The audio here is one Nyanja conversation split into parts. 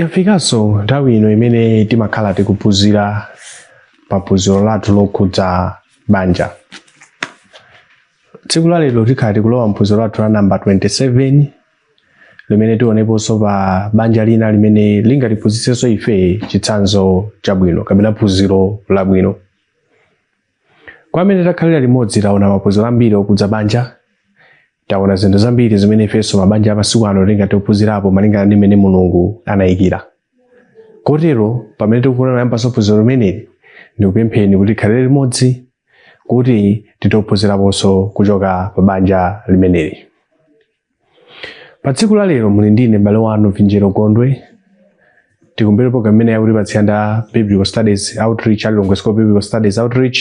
Yafikanso nthawi ino imene timakhala tikuphunzira pa phunziro lathu lokhudza banja. Tsiku la lero tikhala tikulowa mphunziro lathu la namba 27 limene tioneponso pa banja lina limene lingatiphunzitsenso ife chitsanzo chabwino kapena phunziro labwino. Kwa amene takhalira limodzi taona maphunziro ambiri okhudza banja, taona zinthu zambiri zimene ifenso mabanja amasiku ano tingathe kuphunzirapo malingana ndi mmene Mulungu anayikira. Kotero pamene tikufuna kuyambanso phunziro limeneli, ndikupempheni kuti tikhalire limodzi kuti tithe kuphunziraponso kuchoka pa banja limeneli. pa tsiku la lero muli ndine m'bale wanu vinjero gondwe tikumvera program imene akutipatsira ndi a biblical studies outreach a lilongwe school biblical studies outreach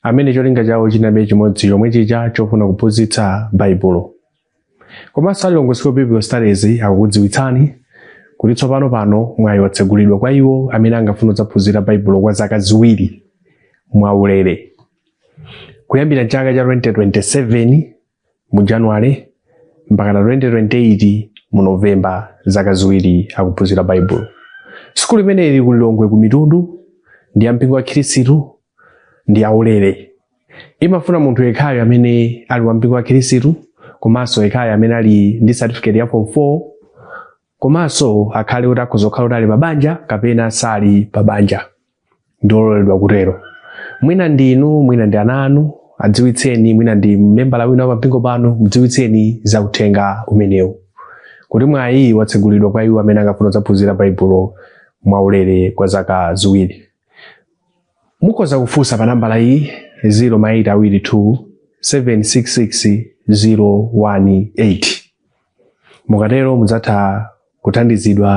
amene cholinga chawo chidali chimodzi chomwe chija chofuna kuphunzitsa baibulo komanso a lilongwe school biblical studies akukudziwitsani kuti tsopano pano mwayi watsegulidwa kwa iwo amene angafuna kudzaphunzira baibulo kwa zaka ziwiri mwaulere kuyambira chaka cha 2027 mu January mpakana 2028 mu November, zaka ziwiri zakuphunzira Baibulo. Sukulu imeneyi ili ku Lilongwe ku Mitundu, ndi ya mpingo wa Khristu, ndi yaulere. Imafuna munthu yekhayo amene ali wa mpingo wa Khristu komanso yekhayo amene ali ndi certificate ya form 4 komanso akhale kuti akhoza kukhala kuti ali pa banja kapena sali pa banja ndiololedwa kutero mwina ndi inu mwina ndi ana anu adziwitseni mwina ndi membala wina wa pampingo panu mudziwitseni za uthenga umenewu kuti mwayi watsegulidwa kwa iwo amene angafune kudzaphunzira baibulo mwaulere kwa zaka ziwiri mukhoza kufunsa pa nambala iyi 0 ma 8 awiri 2 766 018 Mukatero mudzatha kuthandizidwa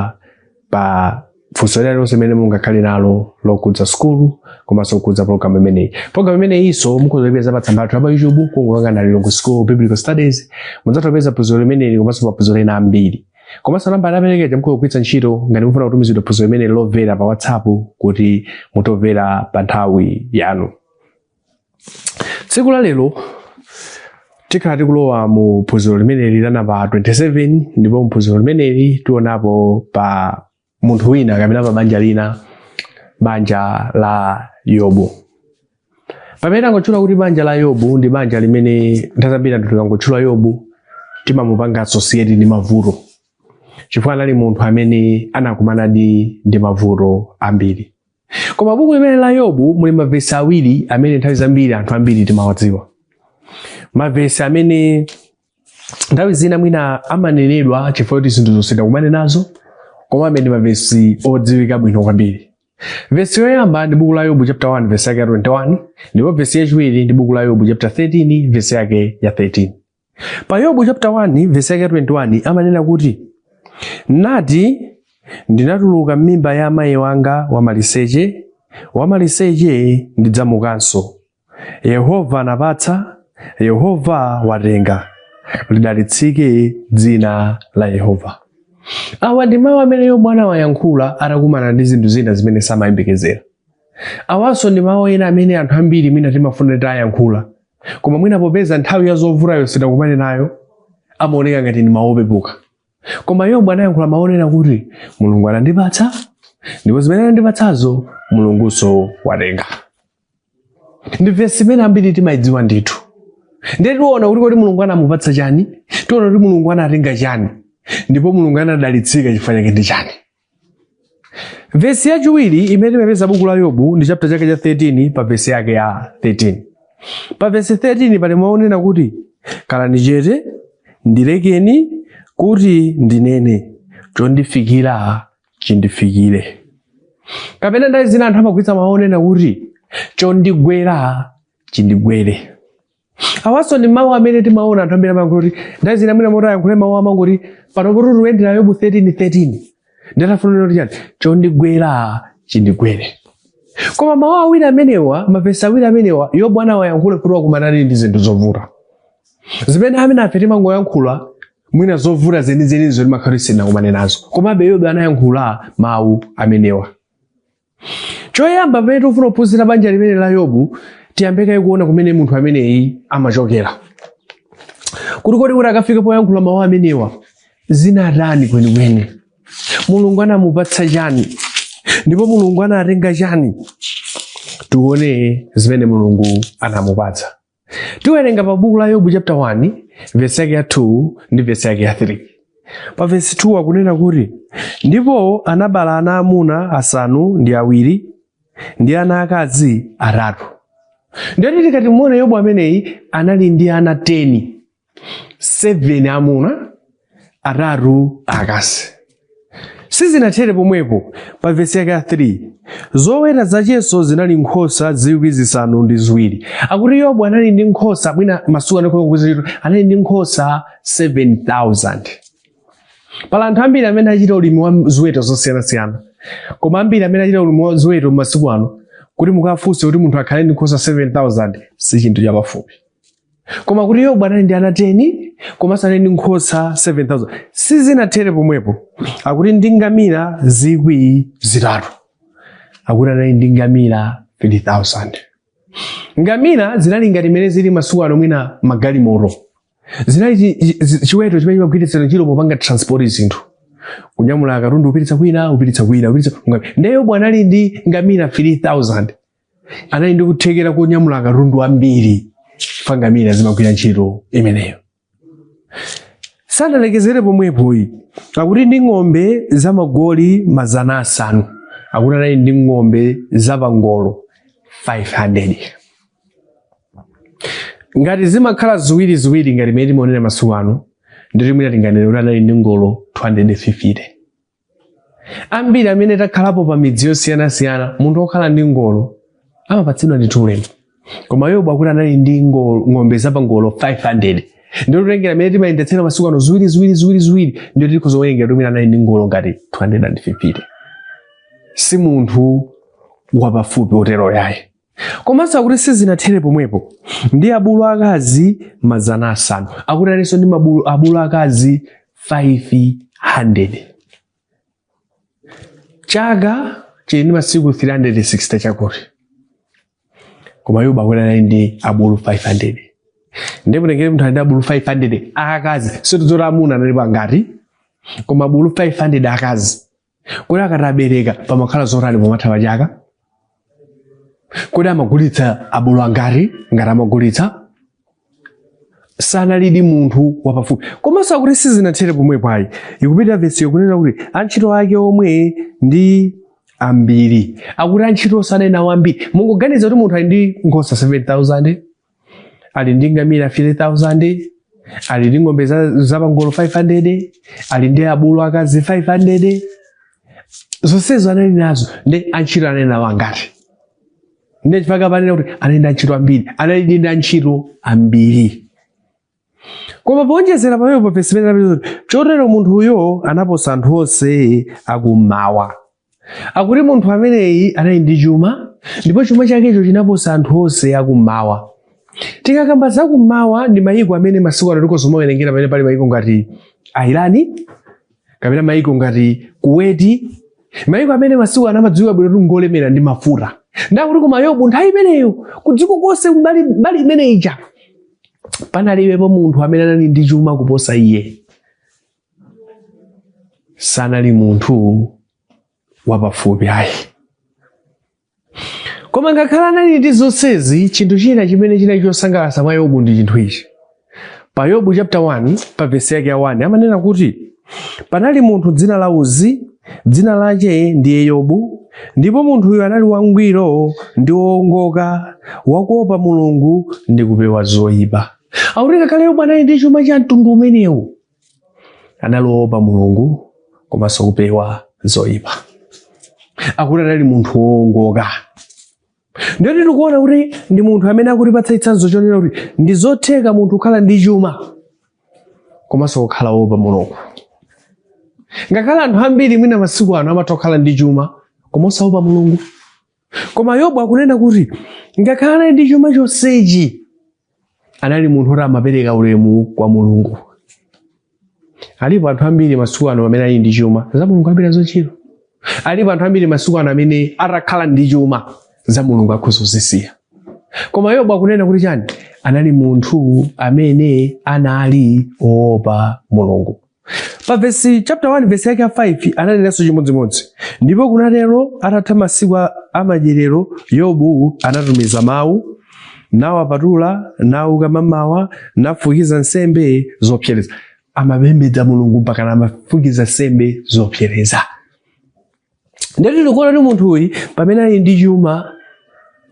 pa funso lina lililonse limene mungakhale nalo lokhudza sukulu komanso lokhudza pologalamu imeneyi. Pologalamu imeneyinso mukhoza kuipeza pa tsamba lathu la pa YouTube kungokasaka Lilongwe School of Biblical Studies. Mudzatha kupeza phunziro limeneli komanso maphunziro ena ambiri. Komanso nambala yaperekedwa ija mukhoza kugwiritsa ntchito ngati mufuna kutumizidwa phunziro limeneli lomvera pa WhatsApp kuti muthe kumvera pa nthawi yanu. tsiku la lero tikhala tikulowa mu phunziro limeneli la namba 27 ndipo mu phunziro limeneli tionapo pa munthu wina kapena pa banja lina banja la yobu pamene tangotchula kuti banja la yobu ndi banja limene nthawi zambiri anthu tikangotchula yobu timamupanga associate ndi mavuto chifukwa anali munthu amene anakumanadi ndi mavuto ambiri Koma buku limeneli la Yobu muli mavesi awiri amene nthawi zambiri anthu ambiri timawadziwa. Mavesi amene nthawi zina mwina amanenedwa chifukwa kuti zinthuzo sitinakumane nazo komabe ndi mavesi odziwika bwino kwambiri. Vesi yoyamba ndi buku la Yobu chapter 1 vesi yake ya 21 ndipo vesi yachiwiri ndi buku la Yobu chapter 13 vesi yake ya 13. pa yobu chapter 1 verse yake 21 amanena kuti nati ndinatuluka m'mimba ya amayi wanga wamaliseche wamaliseche ndidzamukanso yehova anapatsa yehova watenga lidalitsike dzina la yehova awa ndi mawu amene yobu anawayankhula atakumana ndi zinthu zina zimene samayembekezera awanso ndi mawu ena amene anthu ambiri mwina timafuna titayankhula koma mwina popeza nthawi ya zovutayo sitinakumane nayo amaoneka ngati ndi mawu opepuka koma yobu anayankhula mawu onena kuti mulungu anandipatsa ndipo zimene anandipatsazo mulungunso watenga ndi vesi imene ambiri timayidziwa ndithu ndiye tiona kuti kodi mulungu anamupatsa chani tiona kuti mulungu anatenga chani ndipo mulungu anadalitsika chifukwa chake ndi chani Vesi yachiwiri imene timapeza buku la Yobu ndi chapter chake cha 13 pa vesi yake ya 13. Pa vesi 13 pali mawu onena kuti khalani chete ndilekeni kuti ndinene chondifikira chindifikire. Kapena nthawi zina anthu amagwiritsa mawu onena kuti chondigwera chindigwere. Awanso ndi mawu amene timaona anthu ambiri amayankhula kuti nthawi zina mwina moti ayankhule mawu amangoti pano poti tikuyendera Yobu 13:13 ndiye tafunira kuti chani chondigwera chindigwere. Koma mawu awiri amenewa, mavesi awiri amenewa, Yobu anawayankhula kuti wakumana ndi zinthu zovuta zimene ambiri a ife timangoyankhula mwina zovuta zenizenizo timakhala tisinakumane nazo komabe Yobu anayankhula mawu amenewa Choyamba pamene tikufuna kuphunzira banja limeneli la Yobu, tiyambe kaye kuona kumene munthu ameneyi amachokera. Kuti kodi kuti akafike poyankhula mawu amenewa zinatani kwenikweni? Mulungu anamupatsa chani? Ndipo Mulungu anatenga chani? Tione zimene Mulungu anamupatsa. Tiwerenga pa buku la Yobu chapter 1 vesi yake ya 2 ndi vesi yake ya 3. Pa vesi 2 akunena kuti ndipo anabala ana amuna asanu ndi awiri ndi ana akazi atatu. Ndiye tikati timuone Yobu ameneyi anali ndi ana 10 7 amuna atatu akazi sizinathere pomwepo pa vesi yake ya 3 zoweta zachenso zinali nkhosa zikwi zisanu ndi ziwiri akuti yobu anali ndi nkhosa mwina masiku ano akuti anali ndi nkhosa 7000 pali anthu ambiri amene achita ulimi wa ziweto zosiyanasiyana koma ambiri amene achita ulimi wa ziweto masiku ano kuti mukafunse kuti munthu akhale ndi nkhosa 7000 si chinthu chapafupi koma kuti yobu anali ndi ana 10 komanso anali ndi nkhosa 7000 sizinathere pomwepo akuti ndi ngamira zikwi zitatu akuti anali ndi ngamira 3000 ngamira zinali ngati imene zili masiku ano mwina magalimoto zinali chi- chi- chi- chiweto chimene chimagwiritsidwa ntchito popanga transport zinthu kunyamula akatundu kupititsa kwina kupititsa kwina kupititsa ngamira. ndiye yobu anali ndi ngamira 3000 anali ndi kuthekera konyamula akatundu ambiri chifukwa ngamira zimagwira ntchito imeneyo sanalekezere pomwepoyi akuti ndi ng'ombe za magoli mazana asanu akuti anali ndi ng'ombe za pangolo 500 ngati zimakhala ziwiri ziwiri ngati mmene timaonera masiku ano ndiye kuti mwina tinganene kuti anali ndi ngolo 250 ambiri amene takhalapo pa midzi yosiyanasiyana munthu okhala ndi ngolo amapatsidwa ndithu ulemu koma yobu akuti anali ndi ngolo- ng'ombe zapangolo 500 ndiye titengera mmene timayendetsera masiku ano ziwiri ziwiri ziwiri ziwiri ndiye tikhoza kuwerengera kuti mwina anali ndi ngolo ngati 250 si munthu wapafupi otero ayi komanso akuti sizinathere pomwepo ndi abulu akazi mazana asanu akuti analinso ndi abulu abulu akazi 500 chaka chili ndi masiku 360 chakuti koma yobu akuti anali ndi abulu 500 ndiye mutengere munthu ali ndi abulu 500 akazi sitidziwa kuti amuna analipo angati koma abulu 500 akazi kodi akatabereka pamakhala zotani pomatha pa chaka kodi amagulitsa abulu angati ngati amagulitsa sanalidi munthu wapafupi komanso akuti sizinathere pomwepo ayi ikupitiriza vesiyo kunena kuti antchito ake omwe ndi ambiri akuti antchito anali nawo ambiri mungoganiza kuti munthu ali ndi nkhosa 7000 ali ndi ngamira 3000 ali ndi ng'ombe zapangolo 500 ali ndi abulu akazi 500 zonsezo anali nazo ndiye antchito anali nawo angati ndi chifukwa akunena kuti anali ndi antchito ambiri anali ndi antchito ambiri koma powonjezera pamenepo vesi ikunena chotero munthuyo anaposa anthu onse akummawa akuti munthu ameneyi anali ndi chuma ndipo chuma chakecho chinaposa anthu onse akummawa tikakamba za kummawa ndi mayiko amene masiku ano tikhoza kumawerengera pamene pali mayiko ngati Irani kapena mayiko ngati kuweti mayiko amene masiku ano amadziwika bwino kuti ngolemera ndi mafuta nde akuti koma yobu nthawi imeneyo kudziko konse mbali mbali imene ija panalibepo munthu amene anali ndi chuma kuposa iye sanali munthu wapafupi ayi koma ngakhale anali ndi zonsezi chinthu china chimene chinali chosangalatsa mwa yobu ndi chinthu ichi pa yobu chapter 1 pa vesi yake ya 1 amanena kuti panali munthu dzina la uzi dzina lache ndiye yobu ndipo munthuyo anali wangwiro ndi woongoka wakuopa mulungu ndi kupewa zoyipa akuti ngakhale yobu anali ndi chuma cha mtundu umenewo anali woopa mulungu komanso kupewa zoyipa akuti anali munthu woongoka ndiye tikuona kuti ndi munthu amene akutipatsa chitsanzo chonena kuti ndi zotheka munthu kukhala ndi chuma komanso kukhala woopa mulungu ngakhale anthu ambiri mwina masiku ano amatha kukhala ndi chuma koma osaopa mulungu Koma Yobu akunena kuti ngakhale anali ndi chuma chonsechi anali munthu oti amapereka ulemu kwa Mulungu. Alipo anthu ambiri masiku ano amene ali ndi chuma za Mulungu alibe nazo ntchito. Alipo anthu ambiri masiku ano amene atakhala ndi chuma za Mulungu akhoza kuzisiya. Koma Yobu akunena kuti chani? Anali munthu amene anali oopa Mulungu. Pa vesi chapter 1 vesi yake ya 5 ananenanso chimodzimodzi. Ndipo kunatero atatha masiku a- a madyerero Yobu anatumiza mawu nawapatula nauka mamawa nafukiza nsembe zopsereza. Amapembedza Mulungu mpaka amafukiza nsembe zopsereza. Ndetu tikuona kuti munthu uyu pamene ali ndi chuma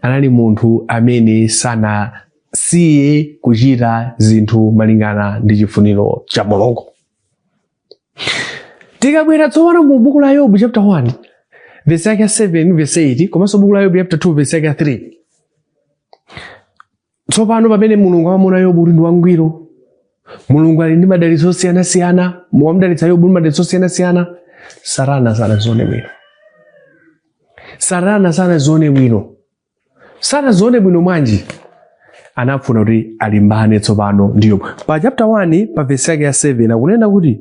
anali munthu amene sanasiye kuchita zinthu malingana ndi chifuniro cha Mulungu. Tikabwera tsopano mu buku la Yobu chapter 1 verse yake 7 verse 8 komanso buku la Yobu chapter 2 verse yake 3 Tsopano pamene Mulungu amamuona Yobu kuti ndi wangwiro, Mulungu ali ndi madalitso osiyanasiyana, wamdalitsa Yobu ndi madalitso osiyanasiyana, Satana sanazione bwino. Satana sanazione bwino. Sanazione bwino mwanji? Anafuna kuti alimbane tsopano ndi Yobu. Pa chapter 1 pa verse yake ya 7 akunena kuti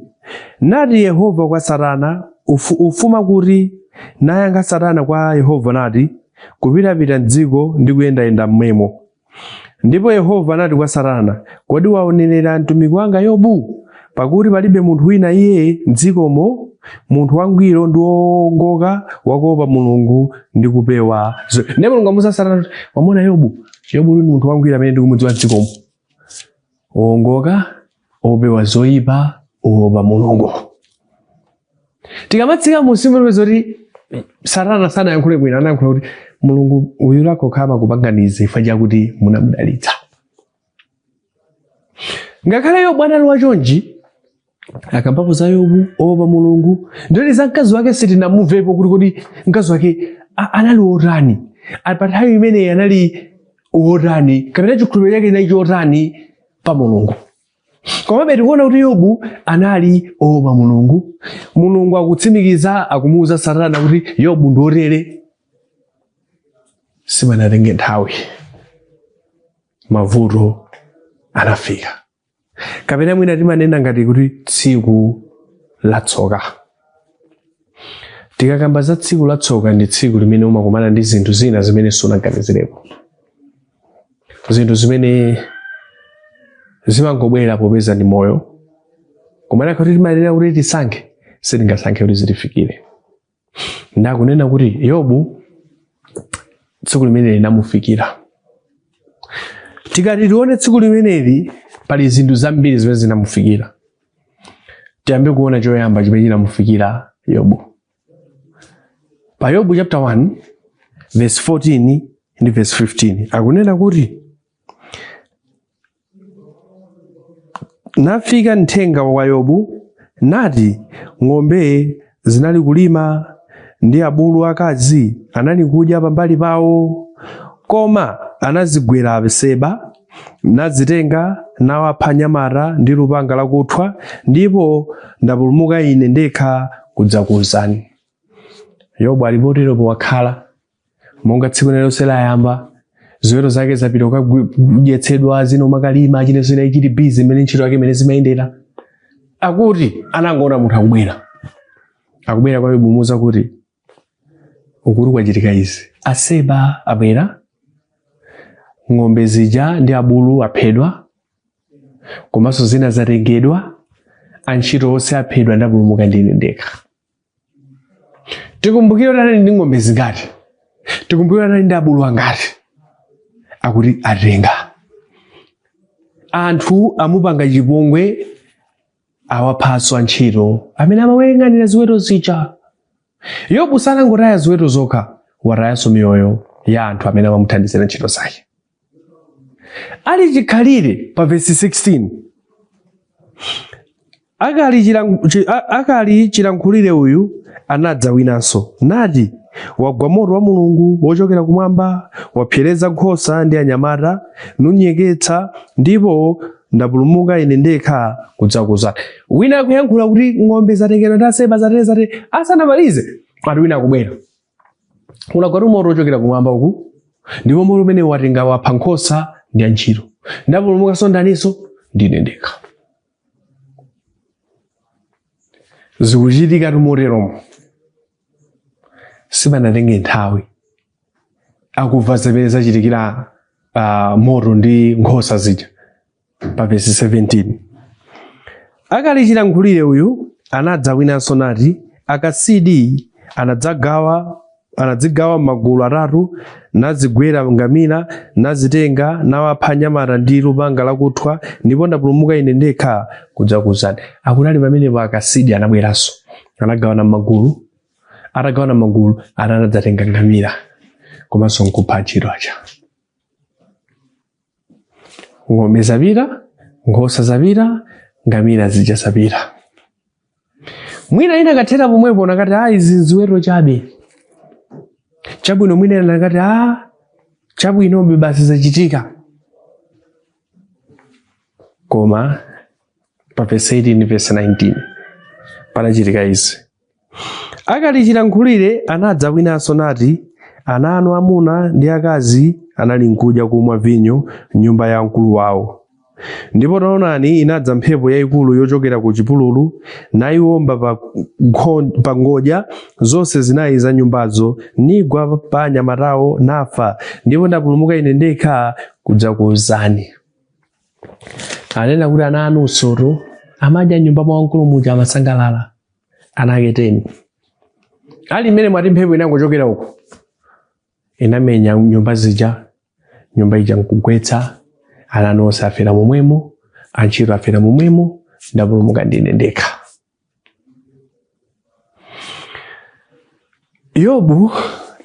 nati Yehova kwa Satana ufu, ufuma kuti nayankha Satana kwa Yehova nati kupitapita m'dziko ndi kuyendayenda mmwemo. Ndipo Yehova anati kwa Satana, Kodi waonerera mtumiki wanga Yobu? Pakuti palibe munthu wina iye m'dzikomo, munthu wangwiro ndi woongoka wakuopa Mulungu ndi kupewa. Ndiye Mulungu amuuza Satana, wamona Yobu? Yobu ndi munthu wangwiro amene ndikumudziwa m'dzikomo, woongoka opewa zoyipa oopa mulungu tikamatsika munsi mupeza kuti satana sanayankhule bwino anayankhula kuti mulungu uyu lake khama kupanga izi chifukwa chakuti munamudalitsa ngakhale yobu anali wachonji akambapo za yobu oopa mulungu ndiye za mkazi wake sitinamumvepo kuti kodi mkazi wake a- anali wotani pa nthawi imeneyi anali wotani kapena chikhulupiriro chake chinali chotani pa mulungu komabe tikuona kuti yobu anali oopa mulungu mulungu akutsimikiza akumuuza satana kuti yobu ndi wotere sipanatenge nthawi mavuto anafika kapena mwina timanena ngati kuti tsiku latsoka tikakamba za tsiku latsoka ndi tsiku limene umakumana ndi zinthu zina zimene sunaganizirepo zinthu zimene zimangobwera popeza ndi moyo koma kunakakhala kuti timayenera kuti tisankhe sitingasankhe kuti zitifikire nde akunena kuti yobu tsiku limeneli linamufikira tikati tione tsiku limeneli pali zinthu zambiri zimene zinamufikira tiyambe kuona choyamba chimene chinamufikira yobu pa yobu chapter 1 verse 14 ndi verse 15 akunena kuti nafika mthenga wa kwa yobu nati ng'ombe zinali kulima ndi abulu akazi anali kudya pambali pawo koma anazigwera a Aseba nazitenga nawapha anyamata ndi lupanga lakuthwa, ndipo ndapulumuka ine ndekha kudzakuuzani. Yobu ali poteropo wakhala monga tsiku lina lililonse layamba ziweto zake zapita kukadyetsedwa zina zimakalima chani zina zichani busy imene ntchito yake imene zimayendera akuti anangoona munthu akubwera akubwera kwa Yobu kumuuza kuti ukuku kwachitika izi aseba abwera ng'ombe zija ndi abulu aphedwa komanso zina zatengedwa antchito onse aphedwa ndapulumuka ndine ndekha tikumbukire kuti anali ndi ng'ombe zingati tikumbukire kuti anali ndi abulu angati akuti atenga anthu amupanga chipongwe awaphanso antchito amene amayang'anira ziweto zija yobu sanangotaya ziweto zokha watayanso miyoyo ya anthu amene amamuthandizira ntchito zake ali chikhalire pa vesi 16 akali chilang- chi- a- akali chilankhulire uyu anadza winanso nati wagwa moto wa mulungu wochokera kumwamba wapsereza nkhosa ndi anyamata nizinyeketsa ndipo ndapulumuka ine ndekha kudzakuwuzani wina akuyankhula kuti ng'ombe zatengedwa ndi aseba zatere zatere asanamalize ati wina akubwera kunagwatu moto wochokera kumwamba uku ndipo mmene watenga wapha nkhosa ndi antchito ndapulumukanso ndaninso ndine ndekha zikuchitika motero mo sipanatenge nthawi akumva zimene zachitikira uh, moto ndi nkhosa zija pa vesi 17 akali chilankhulire uyu anadza winanso nati akasidi anadzagawa anadzigawa m'magulu atatu nazigwera ngamira nazitenga nawapha anyamata ndi lupanga lakuthwa ndipo ndapulumuka ine ndekha kudzakuwuzani akunali pamenepo akasidi anabweranso anagawana magulu atagawana magulu ana anadzatenga ngamira komanso nkupha antchito aja ng'ombe zapita nkhosa zapita ngamira zija zapita mwina inakathera pomwepo anakati a ah, izi nziweto chabe chabwino mwina ina anakati a ah, chabwinobe basi zachitika koma pa vesi 18 vesi 19 panachitika izi akali chilankhulire anadza winanso nati ana anu amuna ndi akazi anali nkudya kumwa vinyo m'nyumba ya mkulu wawo ndipo taonani inadza mphepo yayikulu yochokera ku chipululu nayiwomba pa, nkho- pa ngodya zonse zinayi za nyumbazo nigwa pa anyamatawo nafa ndipo ndapulumuka ine ndekha kudzakuwuzani akunena kuti ana anu nawonsotu amadya m'nyumba mwa wamkulu muja amasangalala ana ake teni ali mmene mwati mphepo inangochokera uko inamenya nyumba zija nyumba ija nkugwetsa ana anu onse afera momwemo antchito afera momwemo ndapulumuka ndine ndekha yobu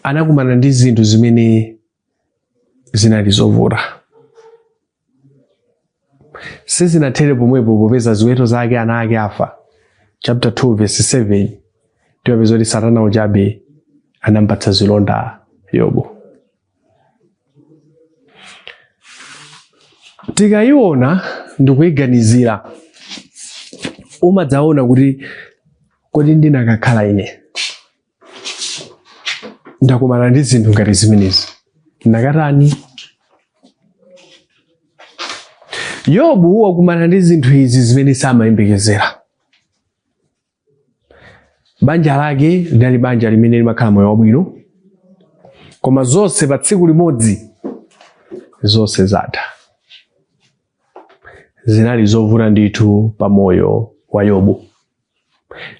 anakumana ndi zinthu zimene zinali zovuta sizinathere pomwepo popeza ziweto zake ana ake afa chapter 2 verse 7 tipeza kuti satana uchabe anampatsa zilonda yobu tikayiona ndikuyiganizira umadzaona kuti kodi ndikanakhala ine ndakumana ndi zinthu ngati zimenezi ndikatani yobu wakumana ndi zinthu izi zimene samayembekezera banja lake linali banja limene limakhala moyo wabwino koma zonse pa tsiku limodzi zonse zatha zinali zovuta ndithu pa moyo wa yobu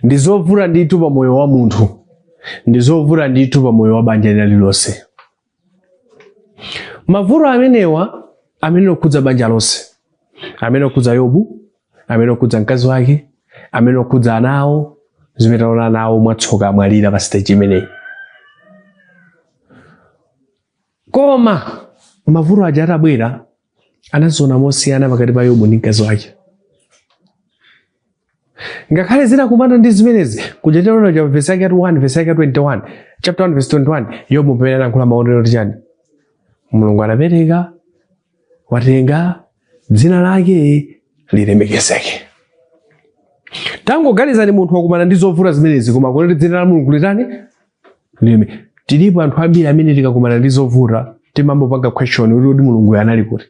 ndi zovuta ndithu pa moyo wa munthu ndi zovuta ndithu pa moyo wa banja lina lilonse mavuto amenewa amene okhudza banja lonse amene okhudza yobu amene okhudza mkazi wake amene okhudza ana awo zimene taona ana awo mwatsoka amwalira pa stage imeneyi koma mavuto aja atabwera anaziona mosiyana pakati pa yobu ndi mkazi wake ngakhale zinakumana ndi zimenezi kuja tinaona cha vesi yake ya 1 vesi yake ya 21 chapter 1 vesi 21 yobu pamene anayankhula ananena kuti chani mulungu anapereka watenga dzina lake lilemekezeke tangoganizani munthu wakumana ndi zovuta zimenezi koma akuti dzina la mulungu litani Lileme tilipo anthu ambiri amene tikakumana ndi zovuta timambopanga question kuti kodi mulungu anali kuti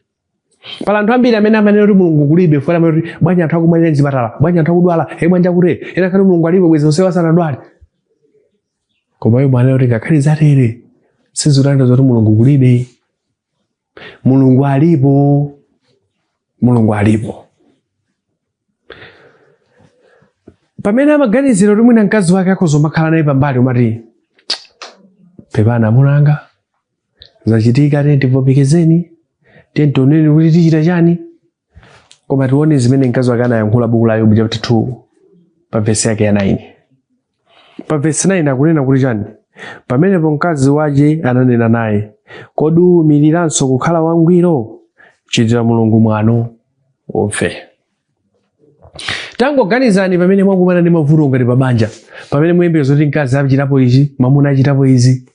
pali anthu ambiri amene amanena kuti mulungu kulibe funa kuti bwanji anthu akumwalira mzipatala bwanji anthu akudwala e bwanji akutere ena akuti mulungu alipo bwezi onsewa sanadwale koma yobu wanena kuti ngakhale zatere sizitanthauza zoti mulungu kulibe mulungu alipo mulungu alipo pamene amaganizira kuti mwina mkazi wake akhoza kumakhala naye pambali kumati pepani amuna anga zachitika tiyeni tivomerezeni tiyeni tioneni kuti tichita chani koma tione zimene mkazi wake anayankhula buku la yobu chapter 2 pa vesi yake ya 9 pa vesi 9 akunena kuti chani pamenepo mkazi wace ananena naye kodi uwumiriranso kukhala wangwiro chitira mulungu mwano ufe tangoganizani pamene mwakumana ndi mavuto ngati pabanja pamene muyembekeza kuti mkazi achitapo izi mamuna achitapo izi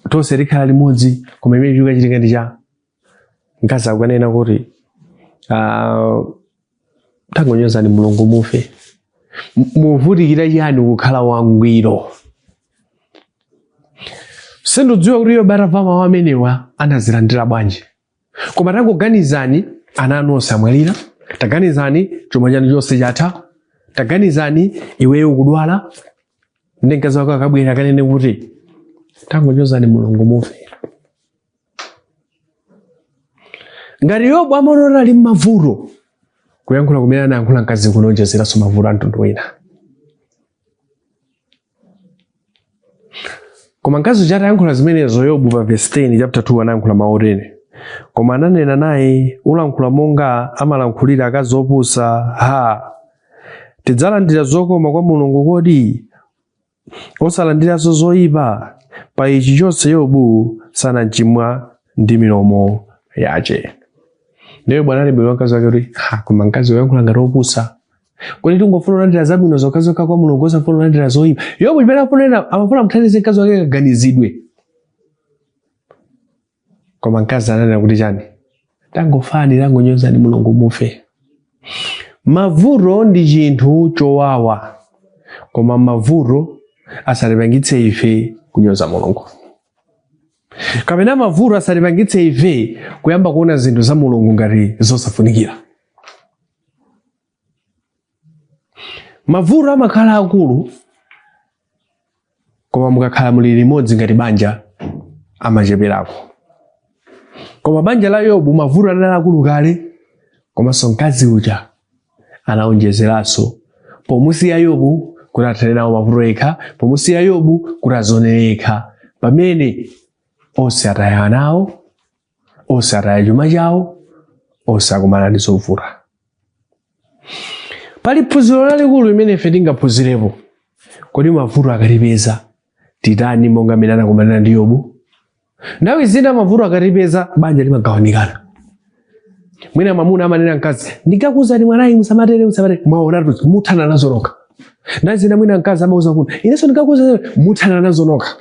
tonse tikhala limodzi koma chimene chikukachitika ndi cha mkazi akukanena kuti uh, tangonyozani mulungu mufe muvutikira chani kukhala wangwiro sindidziwa kuti yobu atamva mawu amenewa anazilandira bwanji koma tangoganizani ana anu onse amwalira taganizani chuma chanu chonse chatha taganizani iweyo ukudwala ndi mkazi wako akabwera akanene kuti tangonyozani mulungu mufe ngati yobu amaona kuti ali m'mavuto kuyankhula kumene anayankhula mkazi kunaonjezeranso mavuto a mtundu wina koma mkazi uja atayankhula zimenezo yobu pa vesi 10 chapter 2 anayankhula mawu otene koma ananena naye ulankhula monga amalankhulira akazi opusa ha tidzalandira zokoma kwa mulungu kodi osalandiranso zoyipa pa ichi chonse yobu sanachimwa ndi milomo yace ndiye yobu anamubweza mkazi wake kuti "Ha, koma mkazi wayankhula ngati opusa kodi tingofuna kulandira zabwino zokhazokha kwa mulungu osafuna kulandira zoyipa yobu chimene afunena amafuna amthandize mkazi wake kaganizidwe koma mkazi ananena kuti chani tangofani tangonyozani mulungu mufe mavuto ndi chinthu chowawa koma mavuto asatipangitse ife kunyoza mulungu kapena mavuto asatipangitse ife kuyamba kuona zinthu za mulungu ngati zosafunikira mavuto amakhala akulu koma mukakhala muli limodzi ngati banja amacheperako koma banja la yobu mavuto anali akulu kale komanso mkazi uja anaonjezeranso pomusiya yobu kuti athane nawo mavuto yekha pomusiya yobu kuti azionere yekha pamene onse ataya ana awo onse ataya chuma chawo onse akumana ndi zovuta pali phunziro lalikulu limene ife tingaphunzirepo kodi mavuto akatipeza titani monga amene anakumana ndi yobu nthawi zina mavuto akatipeza banja limagawanikana mwina mwamuna amanena mkazi ndinkakuuzani mwanayu musamatere musamatere mwaonatu muthana nazo nokha nthawi zina mwina mkazi amauza kuti inenso ndinkakuuzani muthana nazo nokha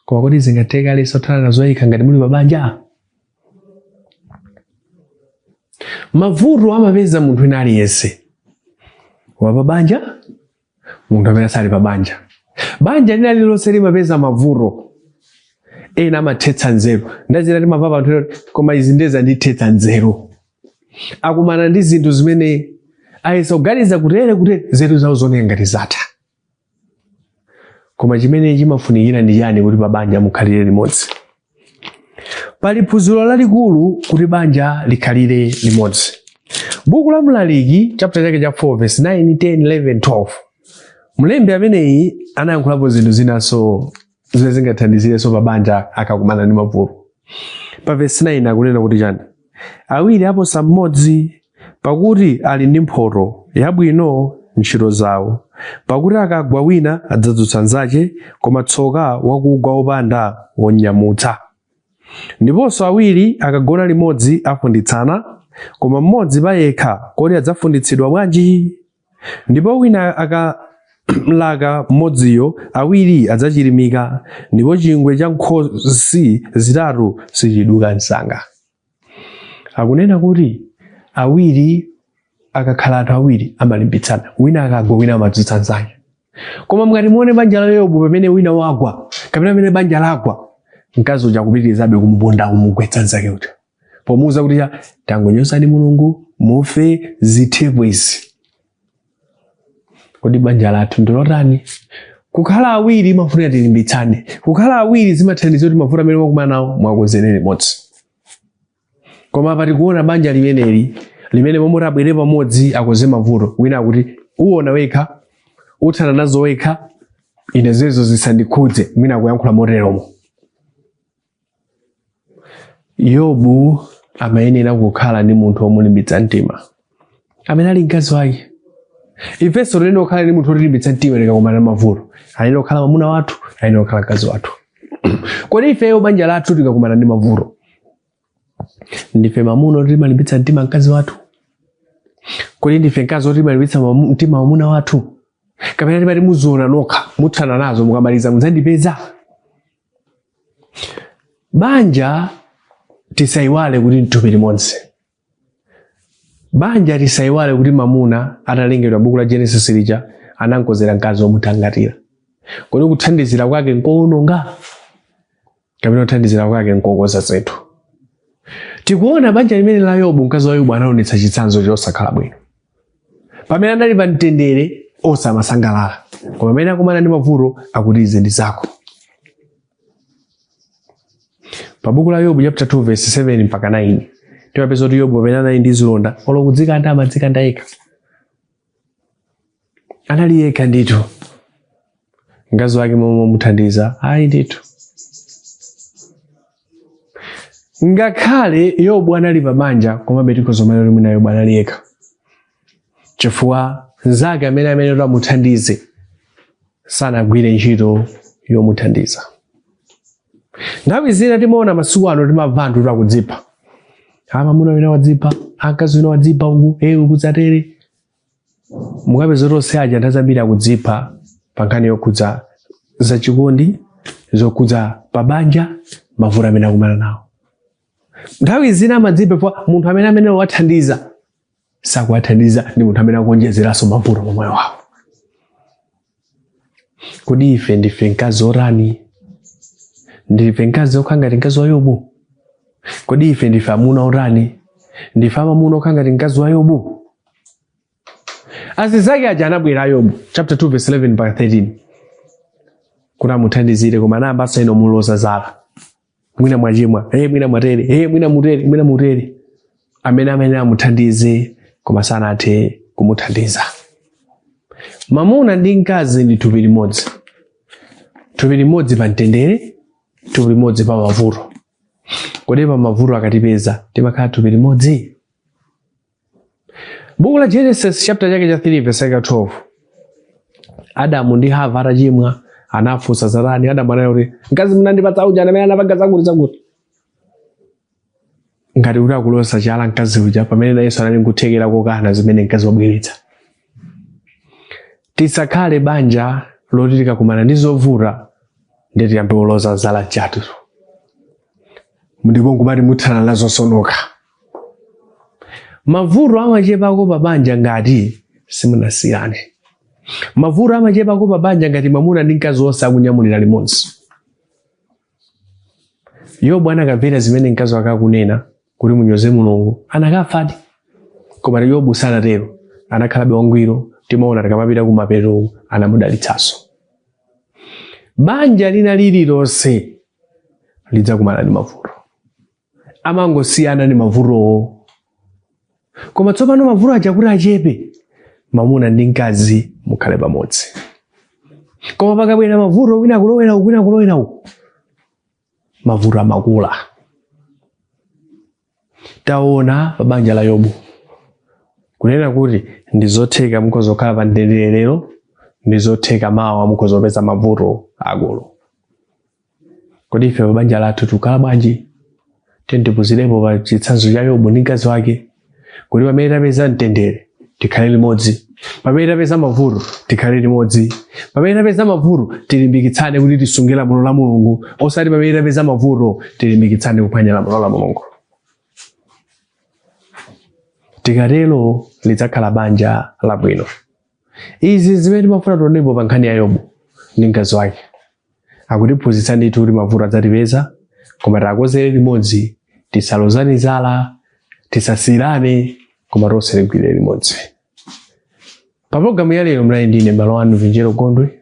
koma kodi zingatheka aliyense kuthana nazo yekha ngati muli pabanja mavuto amapeza munthu wina aliyense wa pabanja munthu amene sali pabanja banja lina lililonse limapeza mavuto ena amathetsa nzeru nthawi zina timamvapo anthu ena kuti, koma izi nde zandithetsa nzeru akumana ndi zinthu zimene ayesa kuganiza kutere kutere nzeru zawo zonse ngati zatha koma chimene chimafunikira ndi chani kuti pa banja mukhalire limodzi pali phunziro lalikulu kuti banja likhalire limodzi buku la mlaliki chapter chake cha 4 verse 9 10 11 12 mlembi ameneyi anayankhulapo zinthu zinanso zimene zingathandizirenso mabanja akakumana ndi mavuto pa vesi 9 akunena kuti chani awiri aposa mmodzi pakuti ali ndi mphoto yabwino ntchito zawo pakuti akagwa wina adzadzutsa nzache koma tsoka wakugwa wopanda womnyamutsa ndiponso awiri akagona limodzi afunditsana koma mmodzi payekha kodi adzafunditsidwa bwanji Ndipo wina akamlaka mmodziyo, awiri adzachirimika, ndipo chingwe cha nkhosi zitatu sichiduka msanga. Akunena kuti awiri akakhala anthu awiri amalimbitsana, wina akagwa wina amadzutsa mnzake. Koma mukati muone banja la Yobu pamene wina wagwa kapena pamene banja lagwa, mkazi uja akupitirizabe kumuponda kumugwetsa mnzake uja. pomuuza kuti ya tangonyozani mulungu mufe zithepo izi kodi banja lathu ndilotani kukhala awiri imafuna tilimbitsane kukhala awiri zimathandiza kuti mavuto amene mwakumana nawo muwakonzere limodzi koma apa tikuona banja limeneli limene momwe abwere pamodzi akonze mavuto wina akuti uona wekha uthana nazo wekha ine zezo zisandikhudze mwina akuyankhula moteromo yobu amayenera kukhala ndi munthu womulimbitsa mtima amene ali mkazi wake ifenso tiyenera kukhala ndi munthu wotilimbitsa mtima tikakumana ndi mavuto ayenera kukhala mwamuna wathu ayenera kukhala mkazi wathu kodi ifeyo banja lathu tikakumana ndi mavuto ndife mwamuna woti timalimbitsa mtima mkazi wathu kodi ndife mkazi woti timalimbitsa mamu- mtima mwamuna wathu kapena timati muziona nokha muthana nazo mukamaliza mudzandipeza banja tisayiwale kuti nthupi limodzi banja tisayiwale kuti mamuna atalengedwa mbuku la genesis lija anankonzera mkazi womuthangatira kodi kuthandizira kwake nkowononga kapena kuthandizira kwake nkokonza zinthu tikuona banja limene la yobu mkazi wa yobu anaonetsa chitsanzo chosakhala bwino pamene anali pa mtendere onse amasangalala koma pamene akumana ndi mavuto akuti izi ndi zako pa buku la yobu chapter 2 verse 7 mpaka 9 timapeza kuti yobu pamene anali ndi zilonda olo kudzikanda amadzikanda yekha anali yekha ndithu mkazi wake momomuthandiza ayi ndithu ngakhale yobu anali pabanja komabe tikhoza kumene kuti mwina yobu anali yekha chifukwa nzake amene amayenera kuti amuthandize sanagwire ntchito yomuthandiza nthawi zina timaona masiku ano timamva anthu oti akudzipha amamuna wina wadzipha akazi ena adzipha uku ewu kudzatere mukapeza zoti onse aja nthawi zambiri akudzipha pa nkhani yokhudza zachikondi zokhudza pabanja mavuto amene akumana nawo nthawi zina amadzipha chifukwa munthu amene amayenera kuwathandiza sakuwathandiza ndi munthu amene akuonjezeranso mavuto mu moyo wawo kodi ife ndife mkazi otani ndife mkazi okhala ngati mkazi wa yobu kodi ife ndife amuna otani ndife amamuna okhala ngati mkazi wa yobu azizake aja anabwera yobu chapter 2 verse 11 mpaka 13 kuti amuthandizire koma anayambanso iwo kumuloza zala mwina mwachimwa hey, mwina mwatere hey, mwina mutere mwina mutere amene amayenera amuthandize koma sanathe kumuthandiza mamuna ndi mkazi ndi thupi limodzi thupi limodzi pa mtendere thupi limodzi pa mavuto kodi pa mavuto akatipeza timakhala thupi limodzi Buku la Genesis chapter chake cha 3 verse 12. Adamu ndi Hava atachimwa anawafunsa za chani, Adamu anati mkazi munandipatsa uja ndi amene anapanga zakuti zakuti. Ngati kuti akuloza chala mkazi uja pamene nayenso anali nkuthekera kokana zimene mkazi wabweretsa. Tisakhale banja loti likakumana ndi zovuta ndiye tiyambe kulozana zala chala. Ndipo nkumati muthana nazo zo nokha. mavuto amachepako pa banja ngati simunasiyane mavuto amachepako pa banja ngati mwamuna ndi mkazi wonse akunyamulira limodzi yobu akanamvera zimene mkazi wake akunena kuti munyoze mulungu akanafadi koma yobu sanatero anakhalabe wangwiro timaona tikamapita kumapeto anamudalitsanso banja lina lililonse lidzakumana ndi mavuto amangosiyana ndi mavutowo koma tsopano mavuto aja kuti achepe mamuna ndi mkazi mukhale pamodzi koma pakabwera mavuto wina kulowera uku wina kulowera uku mavuto amakula taona pa banja la yobu kunena kuti ndi zotheka mukhoza kukhala pa mtendere lero ndi zotheka mawa mukhoza kupeza mavuto akulu kodi ife pa banja lathu tikukhala bwanji tiyeni tiphunzirepo pa chitsanzo cha yobu ndi mkazi wake kuti pamene tapeza mtendere tikhale limodzi pamene tapeza mavuto tikhale limodzi pamene tapeza mavuto tilimbikitsane kuti tisunge lamulo la mulungu osati pamene tapeza mavuto tilimbikitsane kuphwanya lamulo la mulungu tikatero lidzakhala banja labwino izi zimene timafuna tionepo pa nkhani ya yobu ndi mkazi wake akutiphunzitsa ndithu kuti mavuto adzatipeza koma tikonzere limodzi tisalozane zala tisasiyirane koma tonse tigwire limodzi pa pologalamu ya lero munali ndine mbale wanu vinjeru gondwe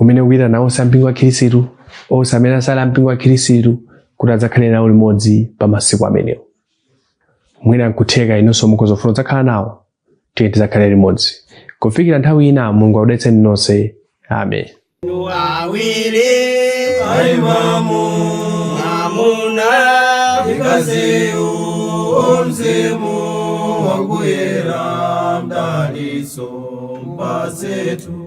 umene ukuitana onse ampingo wa khirisitu onse amene asali ampingo wa khirisitu kuti adzakhale nawo limodzi pa masiku amenewo mwina nkutheka inonso mukhoza kufuna kudzakhala nawo tiye tidzakhale limodzi kufikira nthawi ina mulungu akudalitseni nonse amen awiri aimamu amuna ndi mkaziyu o mzimu wakuyera mdalitso mpatsetu